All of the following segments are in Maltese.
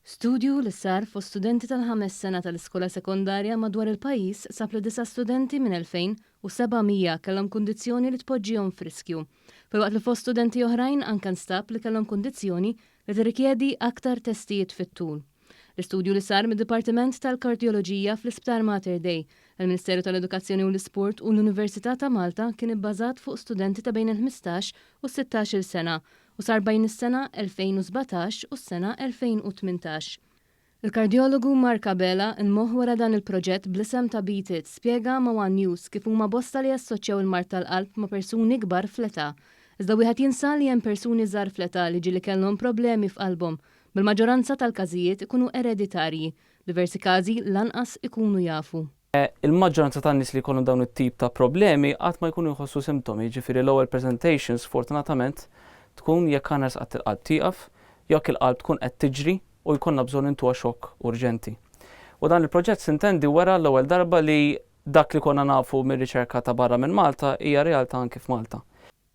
Studju li sar fost studenti tal-ħames sena tal-iskola sekondarja madwar il-pajjiż sab li disa' studenti minn 2,700 kellhom kundizzjoni li tpoġġihom f'riskju, filwaqt li fost studenti oħrajn anke nstab li kellhom kundizzjoni li tirrikjedi aktar testijiet fit-tul. L-istudju li sar mid-Dipartiment tal-Kardjoloġija fl-Isptar Mater Dei, il-Ministeru tal-Edukazzjoni u l-Isport u l-Università ta' Malta kien ibbażat fuq studenti ta' bejn il-ħmistax u s-sittax-il sena u sar bejn is-sena 2017 u s-sena 2018. Il-kardjologu Mark Abela, il-moħħ wara dan il-proġett bl-isem ta' Beat It, spjega ma' one News kif huma bosta li jassoċċjaw il-mard tal-qalb ma' persuni kbar fl-età. Iżda wieħed jinsa li hemm persuni żgħar fl-età li ġieli kellhom problemi f'qalbhom Mill-maġġoranza tal-każijiet ikunu ereditarji, diversi każi lanqas ikunu jafu. Il-maġġoranza tan-nies li jkollhom dawn it-tip ta' problemi qatt ma jkunu jħossu simtomi, jiġifieri l-ewwel presentation sfortunatament tkun jekk għanas qatt il-qalb tieqaf, jokk il-qalb tkun qed tiġri u jkollna bżonn intuha xokk urġenti. U dan il-proġett Sintendi wera l-ewwel darba li dak li konna nafu mir-riċerka ta' barra minn Malta hija realtà anki f'Malta.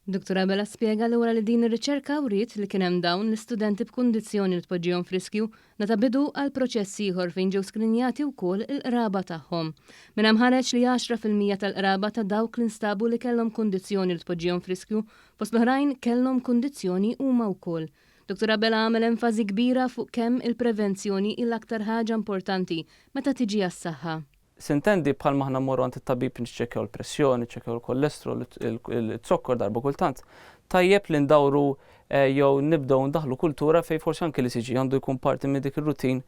Dottor Abela spjega lura li din ir-riċerka wriet li kien hemm dawn l-istudenti b'kundizzjoni li tpoġġihom f'riskju li ta bidu għal proċess ieħor fejn ġew skrinjati wkoll il-qraba tagħhom. Minn hemm ħareġ li għaxra fil-mija tal-qraba ta' dawk li nstabu li kellhom kundizzjoni li tpoġġihom f'riskju fost l-oħrajn kellhom kundizzjoni huma wkoll. Dottor Abela għamel enfażi kbira fuq kemm il-prevenzjoni hi l-aktar ħaġa importanti meta tiġi għas-saħħa. Sintendi, bħalma aħna mmorru għand it-tabib niċċekkjaw il-pressjoni, niċċekkjaw il-kolestrol, iz-zokkor darba kultant, tajjeb li ndawru jew nibdew indaħħlu kultura fejn forsi anki l-ECG għandu jkun parti minn dik ir-routine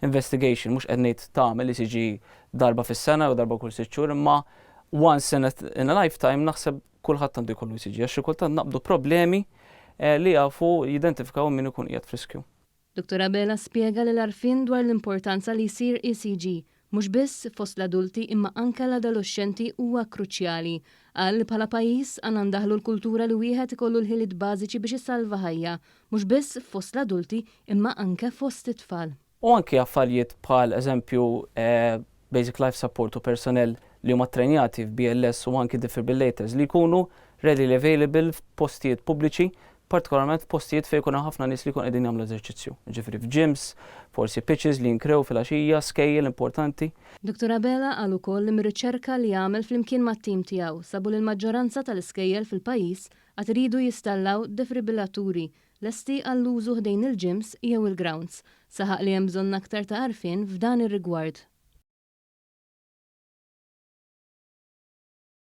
investigation. Mhux qed ngħid tagħmel ECG darba fis-sena jew darba kull sitt xhur imma once in a, in a lifetime naħseb kulħadd għandu jkollu ECG għax xi kultant naqbdu problemi li jafu jidentifikaw min ikun qiegħed f'riskju. Dottor Abela spjega li l-għarfien dwar l-importanza li jsir ECG mhux biss fost l-adulti imma anke l-adoloxxenti huwa kruċjali. Qal li bħala pajjiż għandna ndaħħlu l-kultura li wieħed ikollu l-ħiliet bażiċi biex isalva ħajja, mhux biss fost l-adulti imma anke fost it-tfal. U anke affarjiet bħal eżempju basic life support u persunell li huma ttrejnjati f'BLS u anki defibrillators li jkunu readily available f'postijiet pubbliċi, partikolarment f'postijiet fejn ikun hemm ħafna nies li jkunu qegħdin jagħmlu eżerċizzju, jiġifieri f'gyms, forsi pitches li jinkrew filgħaxija, skejjel importanti. Dottor Abela qal ukoll li mir-riċerka li għamel flimkien mat-tim tiegħu sabu li l-maġġoranza tal-iskejjel fil-pajjiż għad iridu jistallaw defibrillaturi lesti għall-użu ħdejn il-gyms jew il-grawnds, saħaq li hemm bżonn aktar ta' għarfien f'dan ir-rigward.